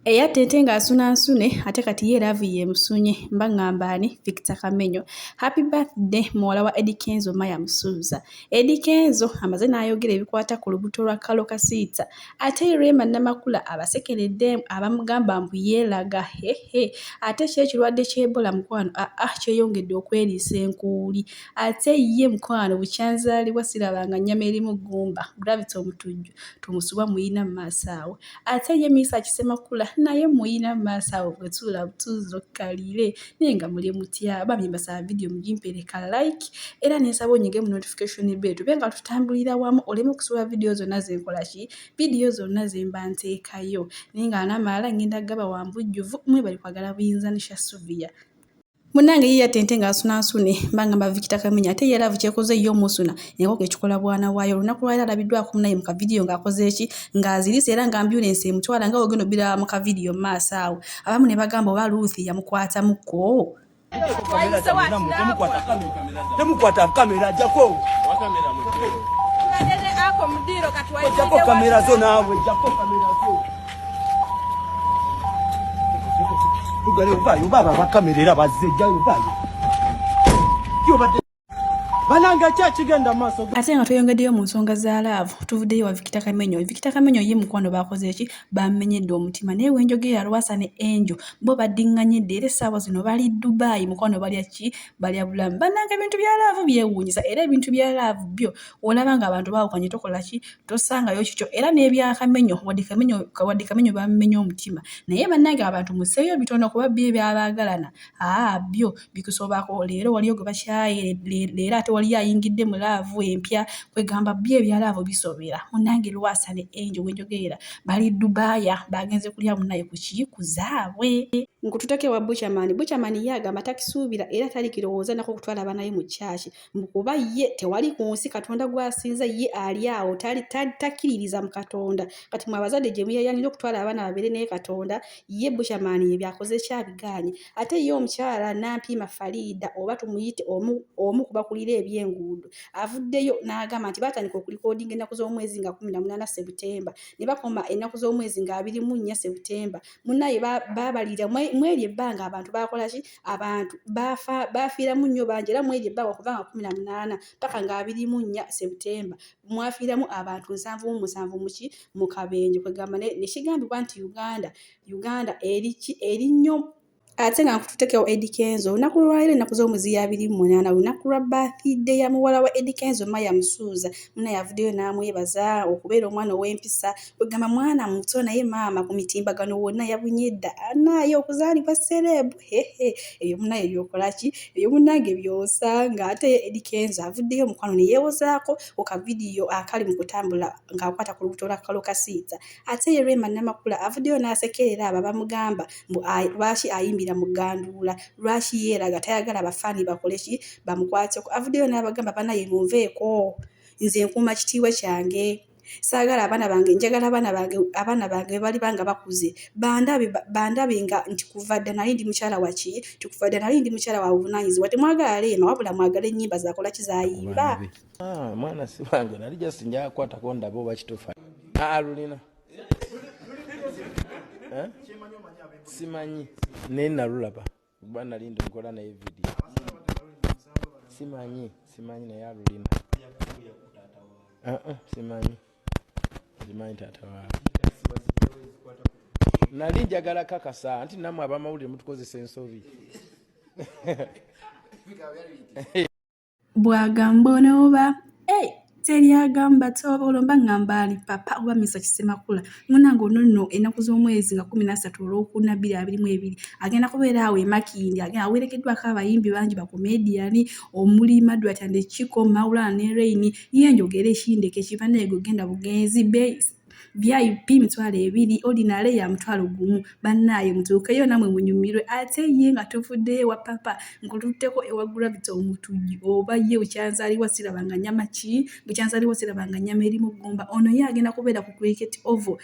Eyattente nga asuna nsune ate kati ye laavu yeemusunye mba ng'amba ani Victor Kamenyo. Happy birthday muwala wa Eddie Kenzo Maya Musuuza. Eddie Kenzo amaze n'ayogera ebikwata ku lubuto lwa Kalo Kasiita ate Rema Namakula abasekeredde abamugamba mbu yeelaga hehe ate kyo ekirwadde ky'Ebola mukwano aa ah, ah, kyeyongedde okweriisa enkuuli ate ye mukwano bukyanzaalibwa sirabanga nnyama erimu ggumba Gravity Omutujju. tumusubwa muyina mumaaso awo ate ye miisa kisemakula naye muyina mumaaso awo bwetuula butuuzo kaliire naye nga muli mutya bambi mbasaba vidiyo mugimpereka like era nensaba onyige mu notification bell tube nga tutambulira wamu oleme okusubwa vidiyo zonna zenkola ki vidiyo zonna zemba nteekayo naye nga anamaala ngenda gaba wambujjuvu mwebali kwagala buyinza nisha suviya munange ye yatente nga asunansune mbanga mbavikita kamenya ate ye laavu kyekoze ye omusuna enkoko ekikola bwana waayo olunaku lwali alabiddwako munaye mu kavidiyo ng'akoze eki ng'azirise era nga ambyulensi emutwala nga wogenda obbira mu kavidiyo mu maaso awo abamu ne bagamba oba luuthi yamukwatamuko temukwata kamera jako jako kamera zo naawe jako kamera zo ate nga tweyongeddeyo mu nsonga za laavu tuvuddeyo wa vikita kamenyo vikita kamenyo ye mukwano bakoze eki bamenyedde omutima naye wenjogera lwasa ne enjo bo baddiŋŋanyedde era essaawa zino bali dubaayi mukwano balya ki balya bulamu bananga ebintu bya laavu byewuunyisa era ebintu bya laavu byo olaba nga abantu bawukanye tokola ki tosangayo kikyo era n'ebyakamenyo wadde kamenyo wadde kamenyo bamumenya omutima naye bannange abantu museeyo bitono kuba byo ebyabaagalana aa byo bikusobako leero waliyo gwe bakyaye leero ate waliyo ayingidde mu laavu empya kwegamba byo ebya laavu bisobera munnange lwasa ne enjo wenjogerera bali dubaaya bagenze kulya munaye ku kii ku zaabwe nkututeke wa buchamani buchamani ye agamba takisuubira era talikirowooza nako okutwala abanaye mu kyaki kuba ye tewali ku nsi katonda gwasinza ye ali awo takkiririza mu katonda kati mwe abazadde gye muyayanira okutwala abaana babeere naye katonda ye bushamaani ye byakoze kyabigaanye ate ye omukyala nampiima fariida oba tumuyite omu kubakulira ebyenguudo avuddeyo n'agamba nti batandika okulikodinga ennaku z'omwezi nga kumi na munaana sebutemba ne bakoma ennaku z'omwezi nga abiri mu nnya sebutemba munaye babalira mweri ebbanga abantu bakolaki abantu baafiiramu nnyo bangi era mweri ebbanga okuva nga kumi na munaana paka nga abiri mu nnya septemba mwafiiramu abantu nsanvu mu musanvu muki mu kabenje kwegamba nekigambibwa nti uganda uganda eriki eri nnyo ate nga nkututekewo Eddy Kenzo olunaku lwaleero ennaku z'omuziya abiri mu munaana lunaku lwa bathide ya muwala wa Eddy Kenzo Maya Musuuza muna yavuddeyo n'amwebaza okubeera omwana ow'empisa ogamba mwana muto naye maama ku mitimbagano wonna yabunye dda anaaye okuzaalibwa sereebu hehe eyo munaye byokolaki eyo munange byosanga ate edikenza avuddeyo omukwano neyewozaako ku kavidiyo akali mu kutambula ng'akwata ku lubuto lwakalo kasiita ate ye lwema namakula avuddeyo n'asekerera abo abamugamba mbu lwaki ayimbira mu ganduula lwaki yeeraga tayagala abafaani bakole ki bamukwateko avuddeyo n'abagamba banaye munveeko nze nkuuma kitiibwa kyange saagala abaana bange njagala abaana bange abaana bange bebaliba nga bakuze bandabe bandabe nga nti kuva dda nali ndi mukyala waki nti kuva dda nali ndi mukyala wa buvunaanyizibwa temwagala leema wabula mwagala ennyimba zakola kizayimba ah, mwana sibange nali just njakwatako ndabe oba kitufa alulina ah, eh? simanyi naye nalulaba Kuba nali ndokola naye video. Simanyi, simanyi naye alulina. Uh -uh, simanyi. Simanyi tata wa. Nali njagala kakasa nti namwe abamawulire mutukozesa ensobi. bwagamba ono oba hey, eh, teri agamba ti oba olomba ngamba ali papa oba misa kisemakula munange ono nno ennaku z'omwezi nga kumi nasatu olwokuna bbiri abiri mu ebiri agenda kubeera awo emakindi agenda awerekeddwako abayimbi bangi bakomediyani omuli madrat and kiko maulana ne reini ye njogera ekindeko ekibanaego genda bugenzi base vip mitwalo ebiri ordinary ya mutwalo gumu bannaaye mutuukeyo namwe munyumirwe ate ye nga tuvuddeyo ewa papa nkututteko ewa gravity omutujju oba ye bukyanzaliwa siraba nga nyama ki bukyanzaliwa siraba nga nyama erimu gumba ono ye agenda kubeera ku cricket ovo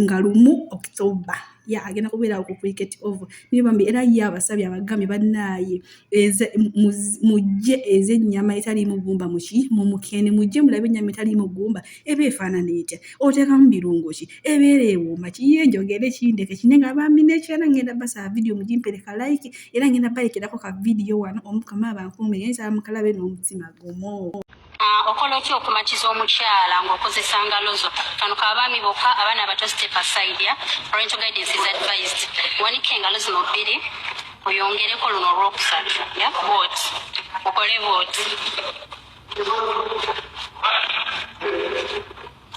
nga lumu okitoba ya agenda kubeerawo ku cricket over naye bambi era ye abasabye abagambye bannaaye mujje eza ennyama etaliimu gumba muki mu mukene mujje mulabe ennyama etaliimu gumba eba efaanana etya oteekamu birungo ki ebeera ewooma kiye njogere kindeke kine nga bambi nekyana ngenda basaba vidiyo mugimpereka like era ngenda balekerako ka vidiyo wano omukama bankuume yensaa mukalabe n'omutima gumu Ah, okola otya okumatiza omukyala ngaokozesa ngalozo kano kabaami boka abaana abato step aside ya parental guidance is advised wanika engalo zino bbiri oyongereko luno olwokusatu ya bot okole bot